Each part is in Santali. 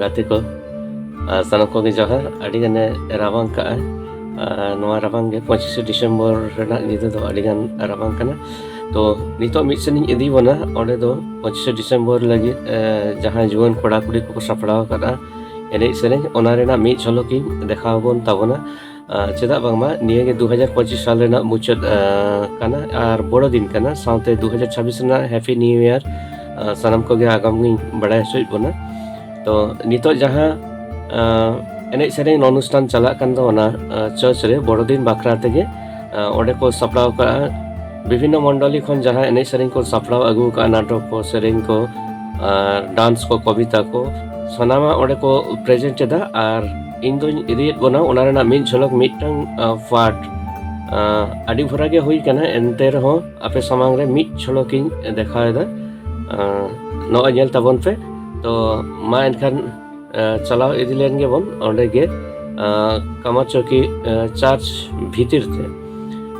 ᱜᱟᱛᱮ ᱠᱚ ᱥᱟᱱᱟᱢ ᱠᱚᱜᱮ ᱡᱚᱦᱟᱨ ᱟᱹᱰᱤ ᱜᱟᱱᱮ ᱨᱟᱵᱟᱝ ᱠᱟᱜᱼᱟ ᱱᱚᱣᱟ ᱨᱟᱵᱟᱝ ᱜᱮ ᱯᱚᱸᱪᱤᱥᱮ ᱰᱤᱥᱮᱢᱵᱚᱨ ᱨᱮᱱᱟᱜ ᱧᱤᱫᱟᱹ ᱫᱚ ᱟᱹᱰᱤ ᱜᱟᱱ ᱨᱟᱵᱟᱝ ᱠᱟᱱᱟ ᱛᱚ ᱱᱤᱛᱚᱜ ᱢᱤᱫ ᱥᱮᱱᱤᱧ ᱤᱫᱤ ᱵᱚᱱᱟ ᱚᱸᱰᱮ ᱫᱚ ᱯᱚᱸᱪᱤᱥᱮ ᱰᱤᱥᱮᱢᱵᱚᱨ ᱞᱟᱹᱜᱤᱫ ᱡᱟᱦᱟᱸ ᱡᱩᱣᱟᱹᱱ ᱠᱚᱲᱟ ᱠᱩᱲᱤ ᱠᱚᱠᱚ ᱥᱟᱯᱲᱟᱣ ᱟᱠᱟᱫᱼᱟ ᱮᱱᱮᱡ ᱥᱮᱨᱮᱧ ᱚᱱᱟ ᱨᱮᱱᱟᱜ ᱢᱤᱫ ᱡᱷᱚᱞᱚᱠ ᱤᱧ ᱫᱮᱠᱷᱟᱣ ᱟᱵᱚᱱ ᱛᱟᱵᱚᱱᱟ ᱪᱮᱫᱟᱜ ᱵᱟᱝᱢᱟ ᱱᱤᱭᱟᱹ ᱜᱮ 2025 ᱥᱟᱞ ᱨᱮᱱᱟᱜ ᱢᱩᱪᱟᱹᱫ ᱠᱟᱱᱟ ᱟᱨ ᱵᱚᱲᱚ ᱫᱤᱱ ᱠᱟᱱᱟ ᱥᱟᱶᱛᱮ 2026 ᱨᱮᱱᱟᱜ ᱦᱮᱯᱤ ᱱᱤᱭᱩ ᱤᱭᱟᱨ ᱥᱟᱱᱟᱢ ᱠᱚᱜᱮ ᱟᱜᱟᱢ ᱜᱤᱧ ᱵᱟᱲᱟᱭ ᱦᱚᱪᱚᱭᱮᱫ ᱵᱚᱱᱟ ᱛᱚ ᱱᱤᱛᱚᱜ ᱡᱟᱦᱟᱸ ᱮᱱᱮᱡ ᱥᱮᱨᱮᱧ ᱚᱱᱩᱥᱴᱷᱟᱱ ᱪᱟᱞᱟᱜ ᱠᱟᱱ ᱫᱚ ᱚᱱᱟ ᱪᱟᱨᱪ ᱨᱮ ᱵᱚᱲᱚ ᱫᱤᱱ ᱵᱟᱠᱷᱨᱟ ᱛᱮᱜᱮ ᱚᱸᱰᱮ ᱠᱚ ᱥᱟᱯᱲᱟᱣ ᱠᱟᱜᱼᱟ ᱵᱤᱵᱷᱤᱱᱱᱚ ᱢᱚᱱᱰᱚᱞᱤ ᱠᱷᱚᱱ ᱡᱟᱦᱟᱸ ᱮᱱᱮᱡ ᱥᱮᱨᱮᱧ ᱠᱚ ᱥᱟᱯᱲᱟᱣ ᱟᱹᱜᱩ ᱠᱟᱜᱼᱟ ᱱᱟᱴᱚᱠ ᱠᱚ ᱥᱮᱨᱮᱧ ᱠᱚ ᱰᱟᱱᱥ ᱠᱚ ᱠᱚᱵᱤᱛᱟ ᱠᱚ ᱥᱟᱱᱟᱢᱟᱜ ᱚᱸᱰᱮ ᱠᱚ ᱯᱨᱮᱡᱮᱱᱴ ᱮᱫᱟ ᱟᱨ ᱤᱧ ᱫᱚᱧ ᱤᱫᱤᱭᱮᱫ ᱵᱚᱱᱟ ᱚᱱᱟ ᱨᱮᱱᱟᱜ ᱢᱤᱫ ᱡᱷᱚᱞᱚᱠ ᱢᱤᱫᱴᱟᱝ ᱯᱟᱴ ᱟᱹᱰᱤ ᱵᱷᱚᱨᱟ ᱜᱮ ᱦᱩᱭ ᱠᱟᱱᱟ ᱮᱱᱛᱮ ᱨᱮᱦᱚᱸ ᱟᱯᱮ ᱥᱟᱢᱟᱝ ᱨᱮ ᱢᱤᱫ ᱡᱷᱚᱞᱚᱠᱤᱧ ᱫᱮᱠᱷᱟᱣᱮᱫᱟ ᱱᱚᱜᱼᱚᱭ ᱧᱮᱞ ᱛᱟᱵᱚᱱ ᱯᱮ ᱛᱚ ᱢᱟ ᱮᱱᱠᱷᱟᱱ ᱪᱟᱞᱟᱣ ᱤᱫᱤ ᱞᱮᱱ ᱜᱮᱵᱚᱱ ᱚᱸᱰᱮ ᱜᱮ ᱠᱟᱢᱟᱪᱚᱠᱤ ᱪᱟᱨᱪ ᱵᱷᱤᱛᱤᱨ ᱛᱮ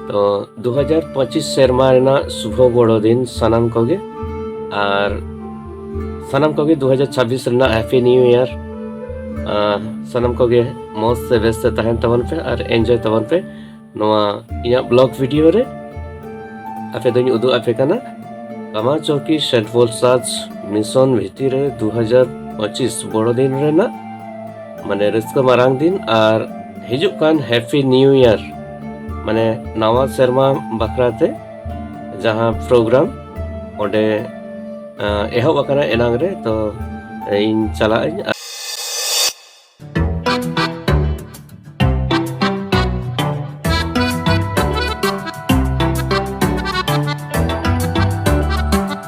ᱛᱚ ᱫᱩ ᱦᱟᱡᱟᱨ ᱯᱚᱸᱪᱤᱥ ᱥᱮᱨᱢᱟ ᱨᱮᱱᱟᱜ ᱥᱩᱵᱷᱚ ᱵᱚᱲᱚ ᱫᱤᱱ ᱥᱟᱱᱟᱢ ᱠᱚᱜᱮ ᱟᱨ ᱥᱟᱱᱟᱢ ᱠᱚᱜᱮ 2026 ᱨᱮᱱᱟᱜ ᱦᱮᱯᱤ ᱱᱤᱭᱩ ᱤᱭᱟᱨ ᱥᱟᱱᱟᱢ ᱠᱚᱜᱮ ᱢᱚᱡᱽ ᱥᱮ ᱵᱮᱥ ᱛᱮ ᱛᱟᱦᱮᱱ ᱛᱟᱵᱚᱱ ᱯᱮ ᱟᱨ ᱮᱱᱡᱚᱭ ᱛᱟᱵᱚᱱ ᱯᱮ ᱱᱚᱣᱟ ᱤᱧᱟᱹᱜ ᱵᱞᱚᱜ ᱵᱷᱤᱰᱤᱭᱳ ᱨᱮ ᱟᱯᱮ ᱫᱚᱧ ᱩᱫᱩᱜ ᱟᱯᱮ ᱠᱟᱱᱟ ᱠᱟᱢᱟ ᱪᱚᱠᱤ ᱥᱮᱴᱵᱚᱞ ᱥᱟᱡᱽ ᱢᱤᱥᱚᱱ ᱵᱷᱤᱛᱤᱨ ᱨᱮ 2025 ᱵᱚᱲᱚ ᱫᱤᱱ ᱨᱮᱱᱟᱜ ᱢᱟᱱᱮ ᱨᱟᱹᱥᱠᱟᱹ ᱢᱟᱨᱟᱝ ᱫᱤᱱ ᱟᱨ ᱦᱤᱡᱩᱜ ᱠᱟᱱ ᱦᱮᱯᱤ ᱱᱤᱭᱩ ᱤᱭᱟᱨ ᱢᱟᱱᱮ ᱱᱟᱣᱟ ᱥᱮᱨᱢᱟ ᱵᱟᱠᱷᱨᱟ ᱛᱮ ᱡᱟᱦᱟᱸ ᱯᱨᱳᱜᱨᱟᱢ ᱚᱸᱰᱮ ᱮᱦᱚᱵ ᱟᱠᱟᱱᱟ ᱮᱱᱟᱝ ᱨᱮ ᱛᱚ ᱤᱧ ᱪᱟᱞᱟᱜ ᱟᱹᱧ